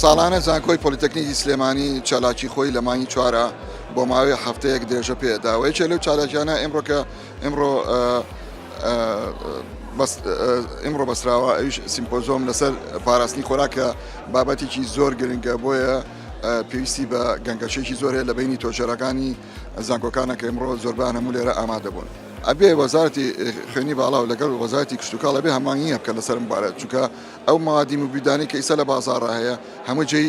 ساڵانە زانکۆی پۆلیتەکنیکی سلێمانی چالاکی خۆی لە مانگی چوارە بۆ ماوەی هەفتەیەک درێژە پێداوە یەکێ لەو چالاکیانە ئمڕۆ کە ئمڕۆ ئمڕۆ بەسراوە ئەوش سیمپۆزۆم لەسەر پاراستنی خۆراکە بابەتێکی زۆر گرنگە بۆیە پێویستی بە گەنگەشێکی زۆر هەیە لە بینی تۆژێرەکانی زانکۆکانە کە ئمڕۆ زۆربان هەموو لێرە ئامادەبوون ئەبێ وەزارتی خوێنی باڵا و لەگەڵ وەزارتی کشتتوکاڵ بێ هەمانیە بکە لەسەر مبارەت چونکە ئەو مادی مبیدانی کە ئیسە لە بازارڕ هەیە هەموو جێی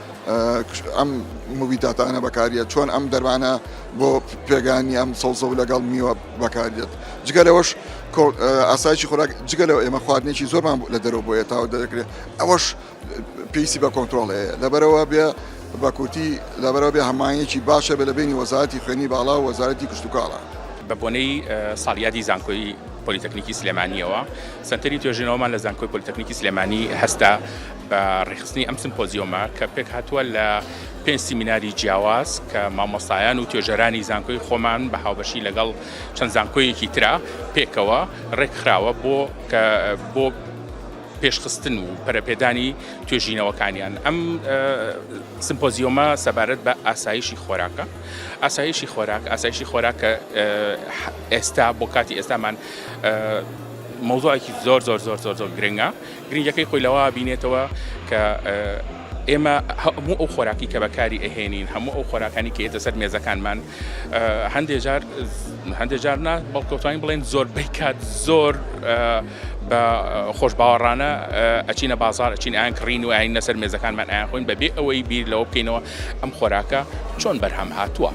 ئەم موبیتاتانە بەکاریە چۆن ئەم دەرمانە بۆ پێگانی ئەم سەوزە و لەگەڵ میوە بەکاریت جگە لەوەش ئاسایشی خۆراک جگە لەوە ئێمە خواردنێکی زۆرمان لە دەرەوە بۆ ئێتاوە دەکرێت ئەوەش پێیسی بە کۆنتترۆڵ هەیە لەبەرەوە بێ بە کورتی لەبەرەوە بێ هەمانەکی باشە بە لە بینی وەزارەتی خوێنی باڵا و وەزارەتی کشتتوکاڵە. بە بۆنەی ساڵیادی زانکۆی پۆلیتەکنیکی سلێمانیەوە سەنتەری توێژینەوەمان لە زانکۆی پۆلیتەکنیکی سلێمانی هەستا بە ڕێکخستنی ئەم سمپۆزیۆمە کە پێکهاتووە لە پێنج سیمیناری جیاواز کە مامۆستایان و توێژەرانی زانکۆی خۆمان بە هاوبەشی لەگەڵ چەند زانکۆیەکی ترا پێکەوە ڕێکخراوە بۆ کە بۆ پێشخستن و پەرەپێدانی توێژینەوەکانیان ئەم سمپۆزیۆمە سەبارەت بە ئاسایشی خۆراکە ئاسایشی خۆراک ئاسایشی خۆراکە ئێستا بۆ کاتی ئێستامان مەوزوعێکی زۆر زۆر زۆر زۆر زۆر گرنگە گرنگیەکەی خۆی لەوە ئەبینێتەوە کە ئێمە هەموو ئەو خۆراکی کە بەکاری ئەهێنین هەموو ئەو خۆراکانی کە ئێتە سەر مێزەکانمان هەندێک جار هەندێک جار نا بەڵکەوتوین بڵێن زۆر بیکات زۆر بە خۆش باوەڕانە ئەچینە بازار ئەچین ئاین کڕین و ئاین نەسەر مێزەکانمان ئاخۆین بەبێ ئەوەی بیر لەوە بکەینەوە ئەم خۆراکە چۆن بەرهەم هاتووە.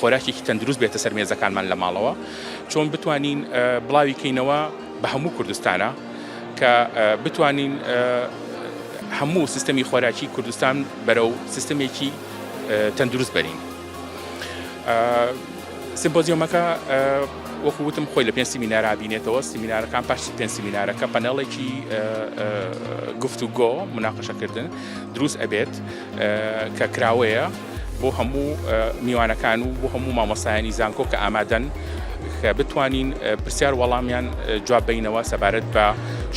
خۆراکێکی تەندروست بێتە سەر مێزەکانمان لە ماڵەوە چۆن بتوانین بڵاوی کەینەوە بە هەموو کوردستانە کە بتوانین هەموو سیستەمی خۆراکی کوردستان بەرەو سیستمێکی تەندروست بەرین سمپۆزیۆمەکە وەکو وتم خۆی لە پێنج سیمینارا بینێتەوە سیمینارەکان پاش پێنج سیمینارەکە پەنەڵێکی گفتوگۆ مناقەشەکردن دروست ئەبێت کە کراوەیە بۆ هەموو میوانەکان و بۆ هەموو مامۆستایانی زانکۆ کە ئامادەن کە بتوانین پرسیار وەڵامیان جواب بینەوە سەبارەت بە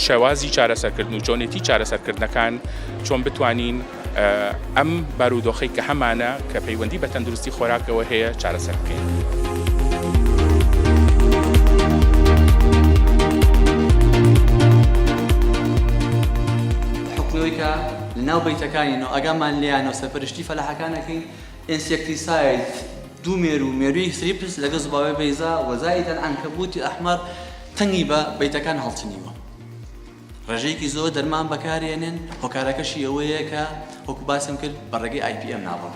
شێوازی چارەسەرکردن و چۆنێتی چارەسەرکردنەکان چۆن بتوانین ئەم بارودۆخی کە هەمانە کە پەیوەندی بە تەندروستی خۆراکەوە هەیە چارەسەر بکەین. لە ناو بەیتەکانی نۆ ئاگامان لێیانە و سەرپەرشتی فەلاحەکان ئەکەین، ئینسێکتیساید، دوو مێروو، مێرووی ثریپس لەگەڵ زباوەی بەیزا، و زائیدەن عنکبوتی احمر، تەنگی بە بەیتەکان هەڵچنیوە. ڕێژەیەکی زۆر دەرمان بەکارێنێن، هۆکارەکەشی ئەوەیە کە وەکو باسم کرد بە ڕێگەی IPM ناڕۆن.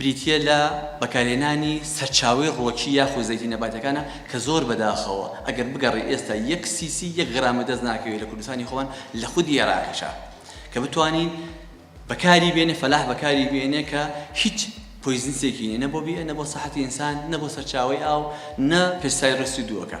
بریتییە لە بەکارهێنانی سەرچاوەی ڕۆکی یاخود زەیتی نەباتیەکانە کە زۆر بەداخەوە ئەگەر بگەڕێی ئێستا یەک سیسی یەک غرامی دەست ناکەوێت لە کوردستانی خۆمان لە خودی ئێراقیشا کە بتوانین بەکاری بێنێ فەلاح بەکاری بێنێ کە هیچ پۆیزنسێکی نیە نە بۆ بیئە نە بۆ سەحەتی ئینسان نە بۆ سەرچاوەی ئاو نە پێستای ڕستی دووەکە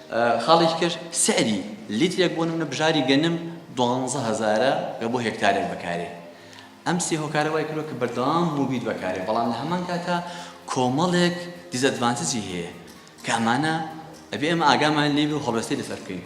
خاڵێکی کەش سعری لیترێک بۆ نمونە بژاری گەنم دوانزە هەزارە گە بۆ هێکتارێک بەکارێ ئەم سێ هۆکارە وای کرۆ کە بەردەوام موبیت بەکارێ بەڵام لە هەمان کاتا کۆمەڵێک دیزەدڤانتجی هەیە کامانە ئەبێ ئەمە ئاگامان لێ و هەڵوێستی لەسەر بکەین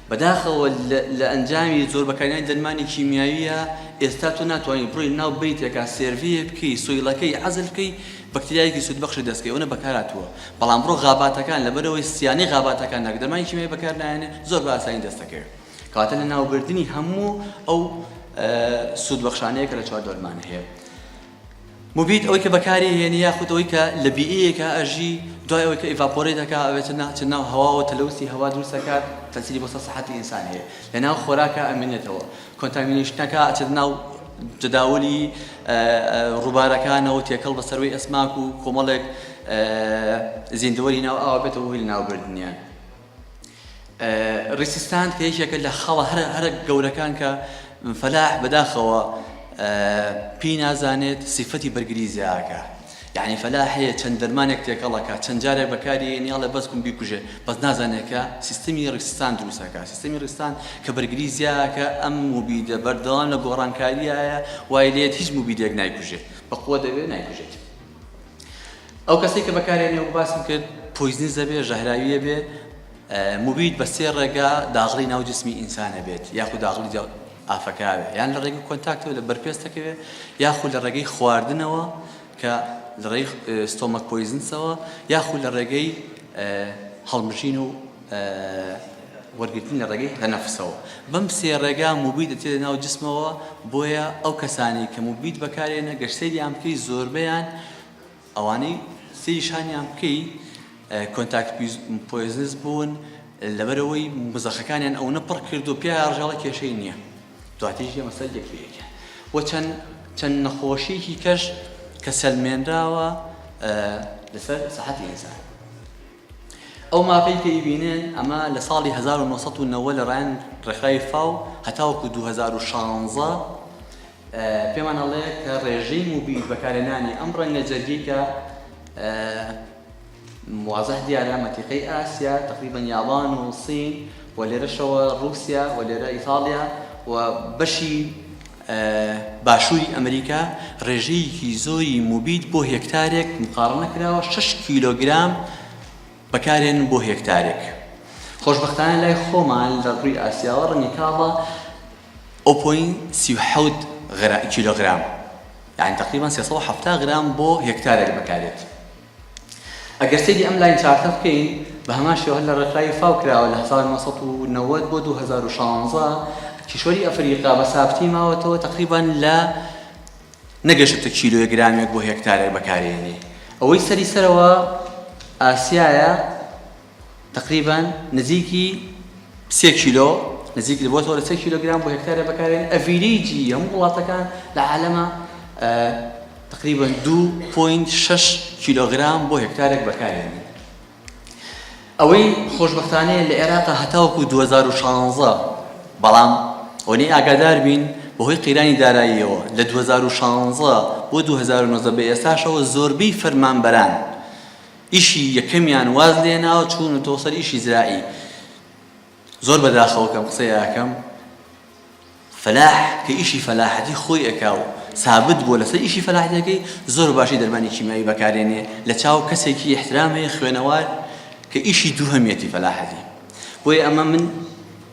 بەداخەوە لە ئەنجامی زۆر بەکارهێنانی دەرمانی کیمیاوییە ئێستا تۆ ناتوانی بڕۆی ناو بەیتێکا سێرڤیێ بکەی سۆیڵەکەی عەزل بکەی بەکتریایەکی سوودبەخشی دەست کەوێ ئەونە بەکارهاتووە بەڵام بڕۆ غاباتەکان لەبەرئەوەی سیانەی غاباتەکاندا کە دەرمانی کیمیاوی بەکار نایەنێ زۆر بە ئاسانی دەست دەکەوێ کەواتە لە ناوبردنی هەموو ئەو سوودبەخشانەیە کە لە چوار دەرمان هەیە موبید، ئەوەی کە بەکاری ئەهێنی یاخود ئەوەی کە لە بیئەیەکا ئەژی دوای ئەوەی کە ئیڤاپۆرەیت ئەکا ئەوێتە نا ئەچێتە ناو هەواوە تەلەوسی هەوا دروست ئەکات تەسیری بۆ سەر سەحەتی ئینسان هەیە لە ناو خۆراکا ئەمینێتەوە کۆنتامینەیشنەکا ئەچێتە ناو جەداولی ڕوبارەکانەوە تێکەڵ بە سەروەی ئەسماک و کۆمەڵێک زیندەوەری ناو ئاو ئەبێتەوە هۆی لە ناو بردنیان. ریسیستاند کە یەکێکە لە خەڵە هەرە هەرە گەورەکان کە فەلاح بەداخەوە پێی نازانێت سیفەتی بەرگری زیاکە یعنی فەلاح هەیە چەند دەرمانێک تێکەڵەکە چەند جارێک بەکاری نیاڵێ بەس کوم بیکوژێ بەس نازانێکە سیستمی ڕستان دروستەکە سیستمی ڕستان کە بەرگری زیاکە ئەم موبیدە بەردەوام لە گۆڕانکاریایە وای لێت هیچ موبیدێک نایکوژێت بەخۆ دەوێت نایکوژێت ئەو کەسەی کە بەکارێنێ وەکو باسم کرد پۆیزنیزە بێ ژەهراویە بێ مبید بە سێ ڕێگا داغڵی ناو جسمی ئینسانە بێت یاخود داغڵی ئافەکاوێ یان لە ڕێگەی کۆنتاکتەوە لە بەرپێستەکەوێ یاخود لە ڕێگەی خواردنەوە کە لە ڕێی ستۆمەک پۆیزنسەوە یاخود لە ڕێگەی هەڵمژین و وەرگرتن لە ڕێگەی هەنەفسەوە بەم سێ ڕێگا موبی دەچێتە ناو جسمەوە بۆیە ئەو کەسانی کە موبیت بەکارێنە گەر سەیریان بکەی زۆربیان ئەوانەی سەیری شانیان بکەی کۆنتاکت پۆیزنس بوون لەبەرەوەی مزەخەکانیان ئەو نەپڕ کرد و پیا ڕژاڵە کێشەی نییە دواتیش ئەمە سەر یەکێکە و چەند چەند نەخۆشیەکی کەش کە سەلمێنراوە لەسەر سەحەتی ئینسان ئەو ماپەی پێی بینن، ئەمە لە ساڵی هەزار و نۆ سەد و نەوەد لە ڕێیان ڕێکخراوی فاو هەتاوەکو دوو هەزار و شانزە پێمان ئەڵێ کە ڕێژەی موبیل بەکارهێنانی ئەم ڕەنگە جەرگی کە موازح دیارە مەتیقەی ئاسیا تقریبا یابان و سین و لێرەشەوە رووسیا و لێرە ئیتاڵیا و بەشی باشووری ئەمریکا ڕێژەیەکی زۆری موبید بۆ هێکتارێک مقاڕنە کراوە شەش کیلۆگرام بەکارهێنن بۆ هێکتارێک خۆشبەختانە لای خۆمان لە ڕووی ئاسیاوە ڕەنگی کاڵە ئۆپۆین سی و حەوت کیلۆگرام یعنی تقریبا سێ سەد و حەفتا گرام بۆ هێکتارێک بەکارێت ئەگەر سەیری ئەم لاین چارتە بکەین بە هەمان شێوە هەر لە ڕێکخراوی فاو کراوە لە هەزار و نۆ سەد و نەوەد بۆ دوو هەزار و شازدە کیشوەری ئەفریقا بە سابتی ماوەتەوە تقریبان لە نەگەشتە کیلۆیە گرامێک بۆ هێکتارێک بەکارێنی ئەوەی سەری سەرەوە ئاسیایە تەقریبەن نزیکی سێ کیلۆ نزیک بۆتەوە لە سێ کیلۆگرام بۆ هێکتارە بەکارێن ئەڤیریجی هەموو وڵاتەکان لە عالەمە تقریبن دو پوینت شش کیلۆگرام بۆ هێکتارێک بەکارێن ئەوەی خۆشببختانەیە لە عێراقا هەتاوکو 2016 بەڵام ئەوەی ئاگادار بین بەهۆی قەیرانی داراییەوە لە 2016 بۆ 2009 بە ئێستاشەوە زۆربەی فەرمانبەران ئیشی یەکەمیان واز لێناوە چوونوتەوە سەر ئیشی زراعی زۆر بەداخەوە کەم قسەی ئەکەم فەلاح کە ئیشی فەلاحەتی خۆی ئەکا و سابت بووە لەسەر ئیشی فەلاحەتەکەی زۆر باشی دەرمانی کیمیاوی بەکارێنێ لە چاو کەسێکی احترام هەیە خوێنەوار کە ئیشی دووهەمیەتی فەلاحەتی بۆیە ئەمە من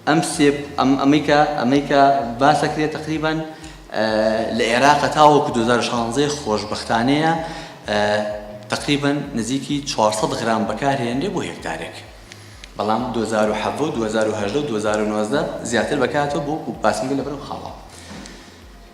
ئەم سێ ئەم ئەمەی کە ئەمەی کە باس ئەکرێ تەقریبەن لە ئێراقە تاوەکو دوو هەزار و شانزە خۆشبەختانەیە تەقریبەن نزیکی چوار سەد غرام بەکارهێنرێ بۆ هێکتارێک بەڵام دوو هەزار و حەڤە و دوو هەزار و هەژدە و دوو هەزار و نۆزدە زیاتر بەکاتەوە بۆ باسمگە لەبەرو خاڵە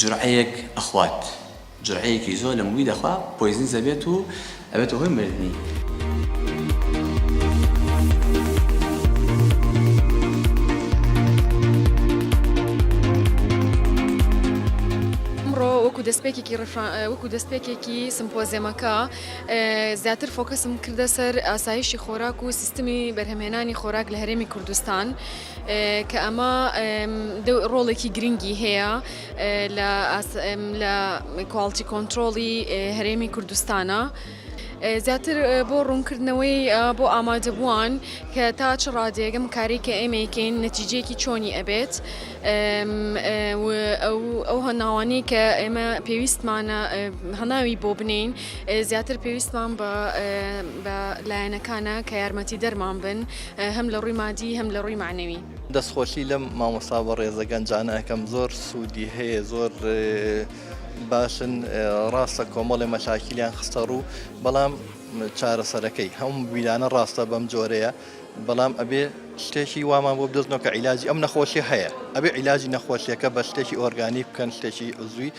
جورعەیەک ئەخوات جورعەیەکی زۆر لە موید ئەخوا پۆیزنز ئەبێت و ئەبێتە هۆی مردنی. وەکو دەستپێکێکی وەکو دەستپێکێکی سمپۆزیەمەکە زیاتر فۆکەسم کردە سەر ئاسایشی خۆراک و سیستمی بەرهەمێنانی خۆراک لە هەرێمی کوردستان کە ئەمە ڕۆڵێکی گرنگی هەیە لە کواڵتی کۆنتترۆڵی هەرێمی کوردستانە. زیاتر بۆ ڕوونکردنەوەی بۆ ئامادەبووان کە تا چ ڕادێگەم کاری کە ئێمەیکەین نەتیجەیەکی چۆنی ئەبێت ئەو هەناوانەی کە ئێمە پێویستمانە هەناوی بۆ بنین زیاتر پێویستمان بە لایەنەکانە کە یارمەتی دەرمان بن هەم لە ڕووی مادی هەم لە ڕووی مەعنەوی. دەست خۆشی لەم مامۆستا بەڕێزە گەنجانە ئەکەم زۆر سوودی هەیە زۆر باشن ڕاستە کۆمەڵێ مەشاکیلیان خستە ڕوو بەڵام چارەسەرەکەی هەم ویرانە ڕاستە بەم جۆرەیە بەڵام ئەبێ شتێکی وامان بۆ بدەستنەوە کە عیلاجی ئەم نەخۆشی هەیە ئەبێ عیلاجی نەخۆشیەکە بە شتێکی ئۆرگانی بکەن شتێکی عزوی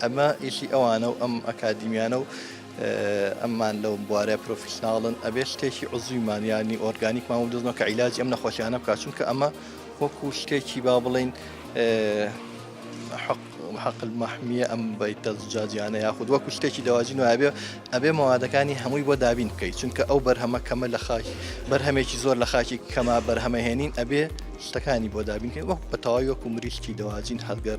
ئەمە ئیشی ئەوانە و ئەم ئەکادیمیانە و ئەممان لەو بوارە پرۆفیشناڵن ئەبێ شتێکی عزویمان یانی ئۆرگانیکمان و دزمە کە عیلاجی ئەم نەخۆشیانە بکات چونکە ئەمە وەکو شتێکی با بڵین حق حقل مەحمیە ئەم بیتە زجاجیانە یاخود وەکو شتێکی دەواجی نوابێ ئەبێ مەوادەکانی هەمووی بۆ دابین بکەیت چونکە ئەو بەرهەمە کەمە لە خاک بەرهەمێکی زۆر لە خاکی کەما بەرهەمەهێنین ئەبێ شتەکانی بۆ دابینکە وەک بە تەواوی وەکو مریشتی دەواجین هەرگەر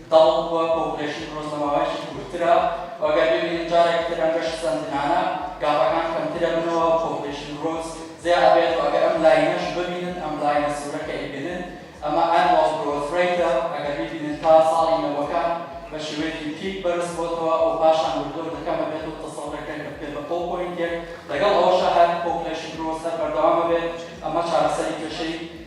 دەڵێن بووە پۆپولەیشن ڕۆژنەماوەیەکی کورتترە و ئەگەر ببینن جارێک تر ئەم گەشت سەندنانە گاپەکان کەمتر ئەبنەوە و پۆپولەیشن گرۆس زیا ئەبێت و ئەگەر ئەم لاینەش ببینن ئەم لاینە سورە کە ئەیبینن ئەمە ئەنواڵ گرۆس ڕەیتە ئەگەر بیبینن تا ساڵی نەوەکان بە شێوەیەکی پیک بەرز بۆتەوە و پاشان وردە وردە کەم ئەبێت و تەسەوڕ ئەکرێن کە بگەن بە پۆ پۆینتێک لەگەڵ ئەوەشا هەر پۆپولەیشن گرۆس هەر بەردەوام ئەبێت ئەمە چارەسەری کێشەی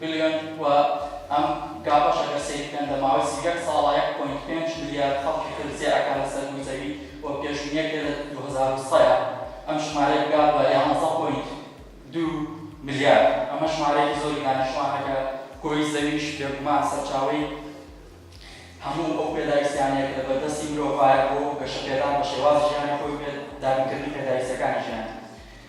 بلیۆن و ئەم گاپەش ئەگەر سەیر بکەن لە ماوەی سی و یەک ساڵا یەک پۆینت پێنج ملیارد خەڵکی خێرو سەیر ئەکا لە سەر رووی زەوی و پێشبینیە کرێ لە دوو هەزار و سەیا ئەم ژمارەیە بگا بە یانزە پۆینت دوو ملیارد ئەمە ژمارەیەکی زۆری دانیشتوانە کە گۆی زەویش بێگومان سەرچاوەی هەموو ئەو پێداویستیانەیە کە لە بەردەستی مرۆڤایە بۆ گەشەپێدان بە شێواز ژیانی خۆی و پێ دابینکردنی پێداویستیەکانی ژیان.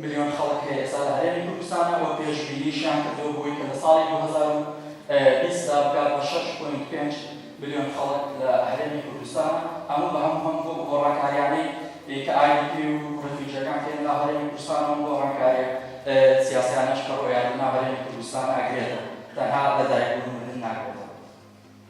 ملیۆن خەڵک هەیە ئێستا لە هەرێمی کوردستانا و پێشبینیشیان کردووە بۆی کە لە ساڵی دوو هەزار و بیست دا بگات بە شەش پۆینت پێنج ملیۆن خەڵک لە هەرێمی کوردستانا هەموو بە هەموو هەم بۆ گۆڕانکاریانەی کە IDP و ڕفیوجیەکان کە لە ناو هەرێمی کوردستانا و گۆڕانکاریە سیاسیانەش کە ڕۆیان لە ناو هەرێمی کوردستانا ئەگرێتەوە تەنها لە دایک بوون و مردن ناگرێتەوە.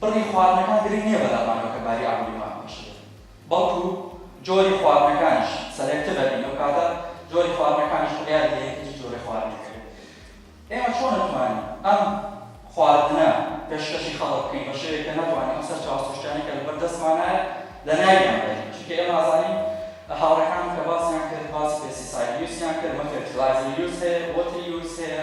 بڕی خواردنەکان گرنگ نییە بەلام مانگەکە باری ئابووری خۆیان بەخشەدەن بەڵکو جۆری خواردنەکانیش سەلێکتڤە بین ئەو کاتە جۆری خواردنەکانیش بڕیار دەدەین کە چ جۆرە خواردنێکە بێت ئێمە چۆن ئەتوانین ئەم خواردنە پێشکەشی خەڵک بکەین بە شێوەیەک کە نەتوانین ئەو سەرچاوە سروشتیانەی کە لەبەر دەستمانایە لە ناویان بەرین چونکە ئێمە ئەزانین هاوڕێکانم کە باسیان کرد باسی پێستیساید یوزیان کرد مە فێرتیلایزەر یوز هەیە وۆتر یوز هەیە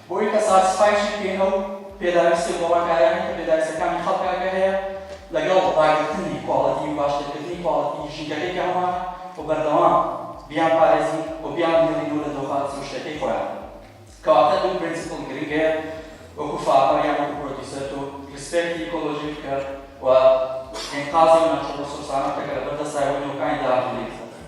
بۆی کە ساتسفایشی پێ ئەو پێداویستیە گۆڕانکاریانەی کە پێداویستەکانی خەڵکەکە هەیە لەگەڵ ڕاگرتنی کواڵێتی و باشترکردنی کواڵێتی ژینگەکەی کە هەمانە و بەردەوام بیان پارێزین و بیان بهێڵینەوە لە دۆخە سروشتیەکەی خۆیان کەواتە دوو پرینسپل گرنگەیە وەکو فارمەر یان وەکو پرۆدیوسەر تۆ ریسپێکتی ئیکۆلۆژی بکە و ئینقازی ئەو ناوچە ڕسۆرسانە بکە کە لەبەر دەستایە و نۆکانی داهاتوو لێی بسەپێنی.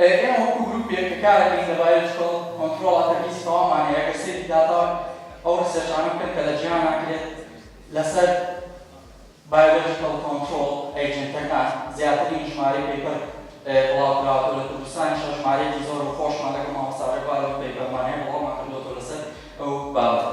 ئێمە وەکو گروپێک کە کارەکەین لە بایۆلۆجیکەڵ کۆنترۆڵ ئەتە بیست تەوامان هەیە گەر سەیری داتا ئەو ڕیسێرچانە بکەن کە لە جیهانا کرێت لەسەر بایۆلۆجیکەڵ کۆنترۆڵ ئەیجێنتەکان زیاترین ژمارەی پەیپەر بڵاو کراوەتەوە لە کوردستانیشا ژمارەیەکی زۆر و خۆشمان لەگەڵ مامۆستا ڕێبوار ئەو پەیپەرمان هەیە بڵاومان کردووەتەوە لەسەر ئەو بابەتە.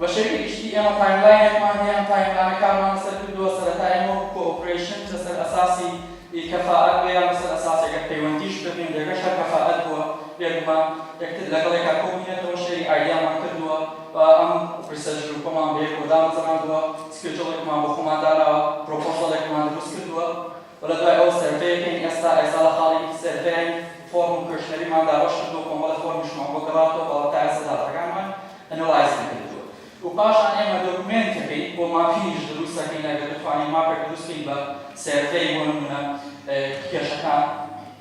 بە شێوەی گشتی ئێمە تایملاینێکمان هەیە، ئەم تایملانەکانمان لەسەر کردووە، سەرەتا ئێمە وەکو کۆئۆپرەیشن لەسەر ئەساسی کەفائەت بوو یان لەسەر ئەساسی ئەگەر پەیوەندیش بە هێندێکەش هەر کەفائەت بووە، بێگومان یەکتر لەگەڵ یەکا کۆبووینەتەوە، شێری ئایدیامان کردووە و ئەم ڕیسێرچ گرووپەمان بەیەکەوە دامەزراندووە، سکێجوڵێکمان بۆ خۆمان داناوە، پرۆپۆزەڵێکمان دروست کردووە. و لە دوای ئەوە سێرڤەیەک کەین ئێستا ئێستا لە خاڵێکی تر سێرڤەین فۆرم و کوێشنەریمان دابەش کردووە کۆمەڵێ فۆرمیشمان بۆ گەڕاوەتەوە بەڵام تا ئێستا داتاکانمان ئەنەڵایز نەکردووە و پاشان ئێمە دۆکومێنتەکەی بۆ ماپینیش دروست ئەکەین ئەگەر بتوانین ماپێک دروست کەین بە سێرڤەی بۆ نموونە کێشەکان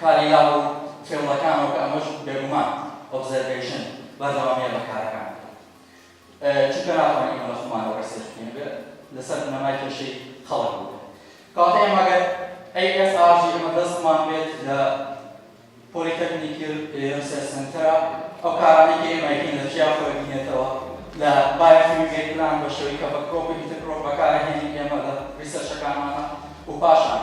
کاری لاو و فێڵەکانەوە کە ئەمەش بێگومان، Observation، بەردەوامییە لە کارەکانی خۆی. چونکە ناتوانین ئێمە لە خۆمانەوە ڕیسێرچ بکەین، ئەبێت لەسەر بنەمای کێشەی خەڵک بووبێت. کەواتە ئێمە ئەگەر ASRG ئێمە دەستمان بێت لە Polytechnical Research Centre، ئەو کارانەی کە ئێمە ئەیکەین لە چیا خۆی دینێتەوە، لە Biofuel Gate Plant بە شێوەی کە بە Crop و Intercrop بەکارئەهێنین ئێمە لە ڕیسێرچەکانمانا و پاشان،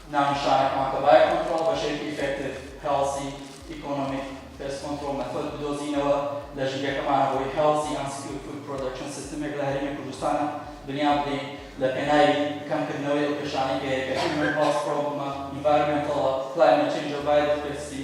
ناونیشانە کوانتەبای کۆنترۆڵ بەشێوەیەکی ئیفێکتیڤ، هێڵسی، ئیکۆنۆمیک پێست کۆنترۆڵ مێثۆد بدۆزینەوە لە ژینگەکەمانە بۆی هێڵسی ئەند سکیور فود پرۆدەکشن سیستمێک لە هەرێمی کوردستانا بنیات بنێین لە پێناوی کەم کردنەوەی ئەو کێشانەی کە هەیە کە هیومەن هێڵس پرۆبڵمە ئینڤایرۆمێنتەڵە کلایمەت چێنجە ڤایرۆس پێستی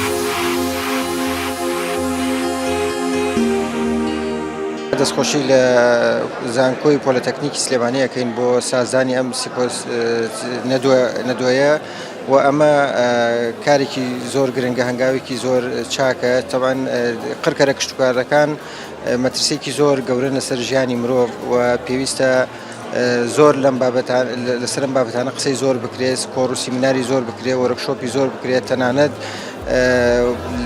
دەستخۆشی لە زانکۆی پۆلەتەکنیکی سلێمانی ئەەکەین بۆ سازدانی ئەم نەدوێە و ئەمە کارێکی زۆر گرنگە هەنگاوێکی زۆر چاکە تەوان قڕکەرە کشتتوکارەکان مەترسێکی زۆر گەورە لەسەر ژیانی مرۆڤ و پێویستە زۆر لەم بابەتە لەسەر ئەم بابەتانە قسەی زۆر بکرێت کۆڕ و سیمیناری زۆر بکرێت وەرەکشۆپی زۆر بکرێت تەنانەت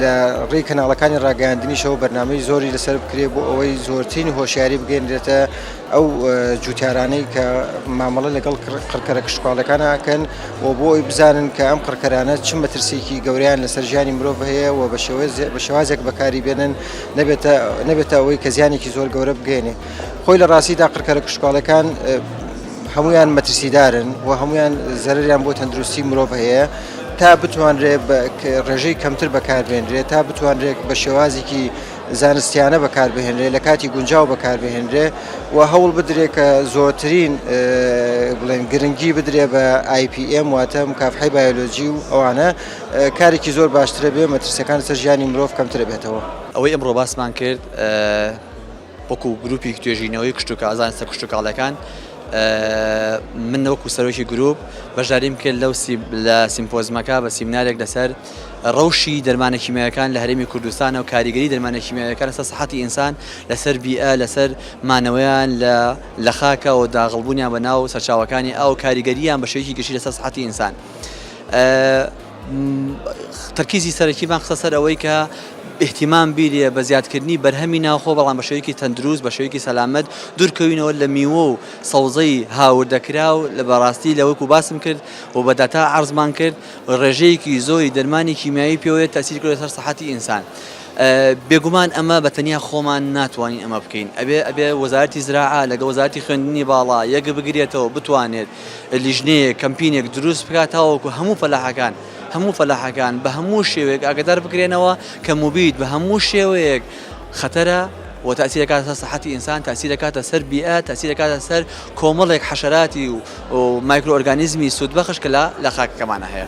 لە ڕێی کەناڵەکانی ڕاگەاندنیشەوە بەرنمەی زۆری لەسەر بکرێت بۆ ئەوەی زۆرترین هۆشیاری بگەێنرێتە ئەو جوتیارانەی کە مامەڵە لەگەڵ قڕکەرە کشتتوالەکانەکەن و بۆ ئەوی بزانن کە ئەم قڕکەرانە چ مەترسیکی گەوریان لەسەر ژیانی مرۆڤ هەیە و بە شێوەیە بە شێوازێک بەکاری بێنن نەبێتە نەبێتە ئەوەی کە زیانێکی زۆر گەورە بگەێنێ خۆی لە ڕاستیدا قڕکەرە کشتوکاڵەکان هەمویان مەترسیدارن و هەمویان زەرریان بۆ تەندروستی مرۆڤ هەیە تا بتوانرێت ڕێژەی کەمتر بەکاربێنرێت تا بتوانرێت بە شێوازێکی زانستیانە بەکاربهێنرێ لە کاتی گونجاو بەکاربهێنرێ و هەوڵ بدرێ کە زۆرترین بڵێن گرنگی بدرێ بە آیPM واتە مکافحی بایۆلۆجی و ئەوانە کارێکی زۆر باشترە بێ مەترسەکان سەر ژیانی مرۆڤ کەمترە بێتەوە ئەوەی ئەمڕۆ باسمان کرد وەکو گروپیک توێژینەوەی کشتوکازان سەر کشتوکاڵەکان من وەکو سەرۆکی گروپ بەشداریم کرد لەو لە سیمپۆزمەکە بە سیمنارێک لەسەر ڕەوشی دەرمانە کیمیاوەکان لە هەرێمی کوردستان و کاریگەری دەرمانە کیمیاوەکان لەسەر سەحەتی ئینسان لەسەر بیئە لەسەر مانەوەیان لە لە خاکە و داغڵبوونیان بە ناو سەرچاوەکانی ئەو کاریگەریان بە شێوەیەکی گشتی لەسەر سەحەتی ئینسان. تەرکیزی سەرەکیمان خستە سەر ئەوەی کە ئیحتیمام بیرە بە زیادکردنی بەرهەمی ناوخۆ بەڵام بە شێوەیەکی تەندروست بە شێوەیەکی سەلامەت دوورکەوینەوە لە میوە و سەوزەی هاوردەکرا و لە بەڕاستی لە وەکو باسم کرد و بە داتا عرضمان کرد ڕێژەیەکی زۆری دەرمانی کیمیایی پێوەیە تاسیر کرد سەر سەحەتی ئینسان. بێگومان ئەمە بە تەنیا خۆمان ناتوانین ئەمە بکەین ئەبێ ئەبێ وەزارەتی زراعە لەگە وەزارەتی خوێندنی باڵا یەک بگرێتەوە بتوانێت لیژنەیەک، کەمپینێک دروست بکات تاوەکو هەموو فەلاحەکان، هەموو فەلاحەکان بە هەموو شێوەیەک ئاگەدار بکرێنەوە کە موبیت بە هەموو شێوەیەک خەتەرە و تاثیر دەکاتە سەر سەحەتی ئینسان، تاثیر دەکاتە سەر بیئە، تاثیر دەکاتە سەر کۆمەڵێک حەشەراتی و مایکرۆ ئۆرگانیزمی سوودبەخش کە لە خاکەکەمانە هەیە.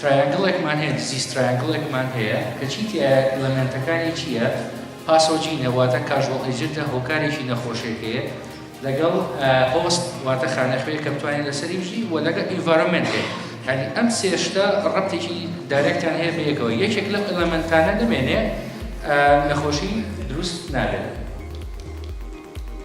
ترایانگڵێکمان هەیە دزیس ترایانگڵێکمان هەیە کە چی تیایە ئیلەمێنتەکانی چیە پاسۆجینە واتە کاژوەڵ ئێجنتە هۆکارێکی نەخۆشێک هەیە لەگەڵ هۆست واتە خانەخوێ کە بتوانین لەسەری بژی و لەگەڵ ئینڤارۆمنت هەیە هەنی ئەم سێشتە ڕەبتێکی دارێکتان هەیە بەیەکەوە یەکێک لەم ئیلەمنتانە نەمێنێ نەخۆشی دروست نابێت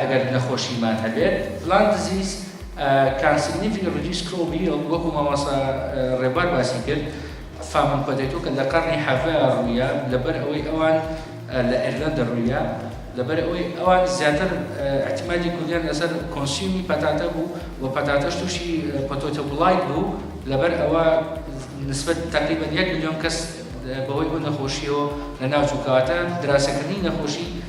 ئەگەر نەخۆشیمان هەبێت Lung Disease Can Significantly Reduce Crop Yield وەکو مامۆستا ڕێبوار باسی کرد فامن پۆتەیتۆ کە لە قەڕنی حەڤە ڕوویە لەبەر ئەوەی ئەوان لە ئێرلەندە ڕوویە لەبەر ئەوەی ئەوان زیاتر اعتمادی کوردیان لەسەر کۆنسیومی پەتاتە بوو و پەتاتەش تووشی پۆتۆتۆ بڵایت بوو لەبەر ئەوە نسبەت تەقریبەن یەک ملیۆن کەس بەهۆی ئەو نەخۆشیەوە لەناو چوو کەواتە دراسەکردنی نەخۆشی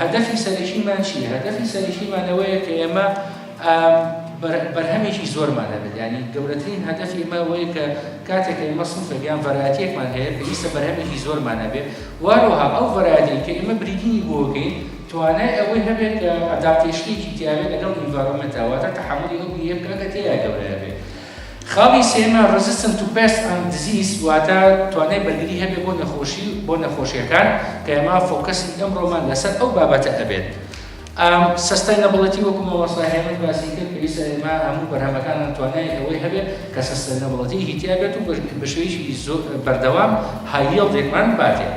هەدەفی سەرەکیمان چییە؟ هەدەفی سەرەکیمان ئەوەیە کە ئێمە بەرهەمێکی زۆرمان هەبێت یعنی گەورەترین هەدەفی ئێمە ئەوەیە کە کاتێک ئێمە سنفێک یان ڤەرایەتیەکمان هەیە پێویستە بەرهەمێکی زۆرمان هەبێت واروها ئەو ڤەرایەتی کە ئێمە بریدینی بۆ بکەین توانای ئەوەی هەبێت کە ئەداپتەیشنێکی تیاوێت لەگەڵ ئینڤارۆمێنتەوە واتە تەحەمولی ئەو بیرە بکات کە تێیدا گەورە دەبێت خاڵی سێیەمیان Resistant to Pest and Disease واتە توانای بەرگری هەبێت بۆ نەخۆشی بۆ نەخۆشیەکان کە ئێمە فۆکەسی ئەمڕۆمان لەسەر ئەو بابەتە ئەبێت ئەم سستەینەبڵەتی وەکو مامۆستا هێمن باسی کرد پێویستە ئێمە هەموو بەرهەمەکانمان توانای ئەوەی هەبێت کە سستەینەبڵەتی هیتیا بێت و بەشێوەیەکی زۆر بەردەوام هاییڵدێکمان باتێت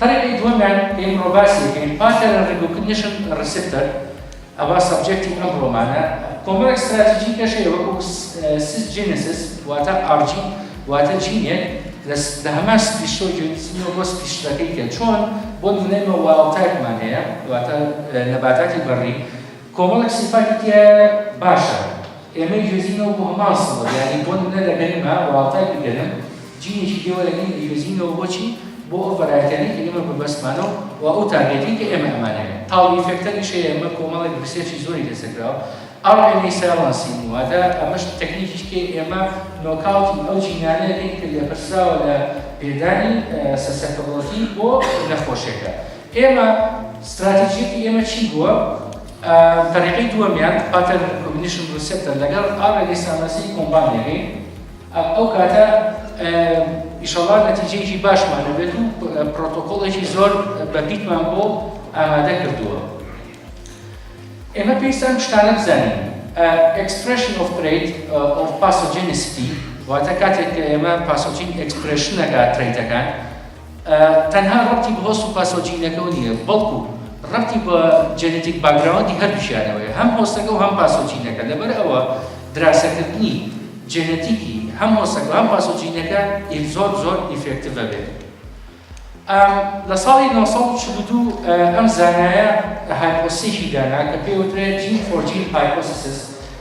پەرەپێی دووەمیان کە ئیمڕۆ باسی دەکەین، Pattern Recognition Receptor، ئەوە سەبجێکتی ئەمڕۆمانە، کۆمەڵێک ستراتیجی کەش هەیە وەکوو Cisgenesis واتە ئاڕجی واتە جینێک لە هەمان سپیشسۆ گوێ دزینەوە بۆ سپیشسەکەی کە چۆن بۆ نموونەی مە وایڵدتایپمان هەیە واتە نەباتاتی بەڕی، کۆمەڵێک سیفاتی تیایە باشە ئێمەی گوێزینەوە بۆ هەمان سڵە یانی بۆ نمونە لە گەرمە وەاڵتای بیگەرم جینێکی دێوە لە نێوی گوێزینەوە بۆچی بۆ ئەو ڤەرایەتیانەی کە ئێمە بەبەستمانە و و ئەو تارگێتی کە ئێمە ئەمانەوێ تاڵ ئیفێکتەریش هەیە ئێمە کۆمەڵێک ریسێرچی زۆری لەسەر کراوە ئەڕ ئێمەی سایڵەنسین واتە ئەمەش تەکنیکیش کە ئێمە نۆکاوتی ئەو جینانە دەکەین کە لێپرسراوە لە پێدانی سەسەپەبڵەتی بۆ نەخۆشێکە ئێمە ستراتیجیەتی ئێمە چی بووە؟ ئا تەریقەی دووەمیان، Pattern Recognition Receptor، لەگەڵ ئا ڕێگەی سامناسی کۆمبان دەکەین، ئا ئەو کاتە ئا ئیشەڵا نەتیجەیەکی باشمان هەبێت و پرۆتۆکۆڵێکی زۆر بە پیتمان بۆ ئامادە کردووە. ئێمە پێویستە ئەم شتانە بزانین، ئا Expression of Trait of Pathogenicity، واتە کاتێک کە ئێمە پاسۆجین ئێکسپرێشن دەکا ترەیتەکان، تەنها ڕەبتی بە هۆست و پاسەوە جینەکەوە نییە، بەڵکو ڕەبتی بە جێنێتیک باکگراوندی هەردووکیانەوەیە، هەم هۆستەکە و هەم پاسەوە جینەکە، لەبەرئەوە دراسەکردنی جێنێتیکی هەم هۆستەکە و هەم پاسەوە جینەکە ئیف زۆر زۆر ئیفێکتڤە بێت. لە ساڵی نۆ سەد و چل و دوو ئەم زانایە هایپۆسیسی دانا کە پێی وترێت جین فۆر جین هایپۆسیسس،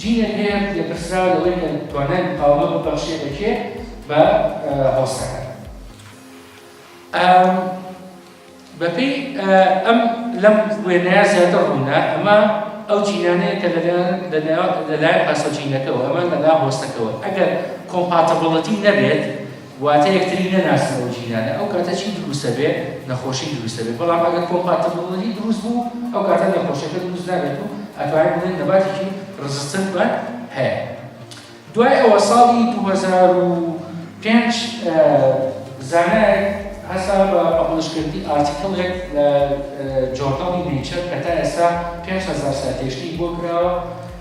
جینێک هەیە لەپرسراو لەوەی کە توانای مقاومە ببەخشێ بە کێ بە هۆستەکە بەپێی ئەم لەم وێنەیە زیاتر ڕوونە ئەمە ئەو جینانەیە کە لەلایەن پاسۆجینەکەەوە ئەمە لەلا هۆستەکەەوە ئەگەر کۆمپاتەبڵەتی نەبێت واتە یەکتری نەناسن ئەو جیرانە ئەو کاتە چی دروستە بێ نەخۆشی دروستە بێ بەڵام ئەگەر کۆمپاتبڵی دروست بوو ئەو کاتە نەخۆشەکە دروست نابێت و ئەتوانین بڵێن نەباتێکی ڕزستن بە هەیە دوای ئەوە ساڵی 2005 زانایەک هەسا بە پەپڵشکردنی ئارتیکڵێک لە جۆرناڵی نیچەر کە تا ئێستا 5 هزار ساتێشتی بۆ کراوە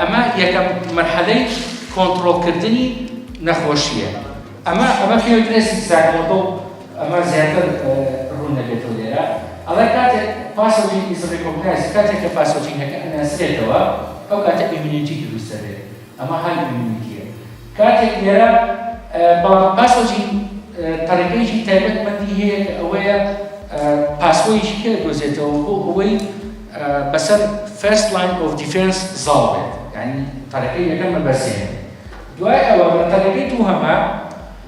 ئەمە یەکەم مەرحەلەی کۆنتڕۆڵکردنی نەخۆشییە. ئەمە ئەمە پێ وترێ سیستاک مۆتڵ ئەمە زیاتر ڕوون نەبێتەوە لێرە ئەڵێ کاتێک پاسۆجین ئیز ڕیکۆگنایزد کاتێک کە پاسۆجینەکە ئەناسرێتەوە ئەو کاتە ئیمیونیتی دروست دەبێت ئەمە هەرد ئیمیونیتییە. کاتێک لێرە بەڵام پاسۆجی تەڕیقەیەکی تایبەت مەندی هەیە کە ئەوەیە پاسۆیەکی کە دۆزێتەوە بۆ ئەوەی بەسەر فێست لاین ئۆف دیفێنس زاڵ بێت یعنی تەڕیقەی یەکەم مەبەسێن دوای ئەوە لە تەڕیقەی دووهەمە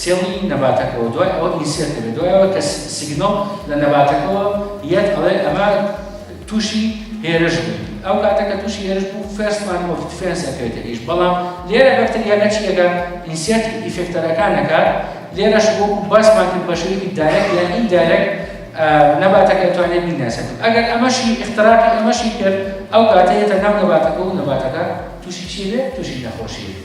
سێڵی نەباتەکەوە دوای ئەوە ئینسێرت دەبێت دوای ئەوە کە سیگنەڵ لە نەباتەکەوە یەت ئەڵێ ئەمە تووشی هێرش بوو ئەو کاتە کە تووشی هێرش بوو فێرست مان ئۆف دیفێنس ئەکرێتە ئیش بەڵام لێرە بەکتریا نەچیەکە ئینسێرت ئیفێکتەرەکانەکە لێرەش بۆ باسمان کرد بە شێوەیەکی دایرەک یان ئیندایرەک نەباتەکە توانێت بیناسێت ئەگەر ئەمەشی اختراقی ئەمەشی کرد ئەو کاتەیەتە ناو نەباتەکە و نەباتەکە تووشی چی بێت تووشی نەخۆشی بێت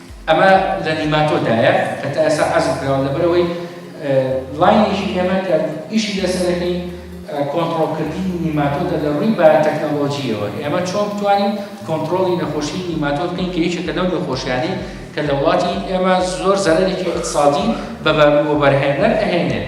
ئەمە لە نیماتۆدایە کە تا ئێستا حەزف کراوە لەبەرەوەی لاینێکی ئێمە کە ئیشی لەسەرەکەی کۆنتترۆلکردنی نیماتۆدە لە ڕووی باتەکنەلۆژیەوە ئێمە چۆن بتوانین کۆنتترۆلی نەخۆشی نیماتۆد بکەین کە یەکێکە لەو نەخۆشیانەی کە لە وڵاتی ئێمە زۆر زەرەێکی اقتصادی بە بەرهێنەر ئەهێنێت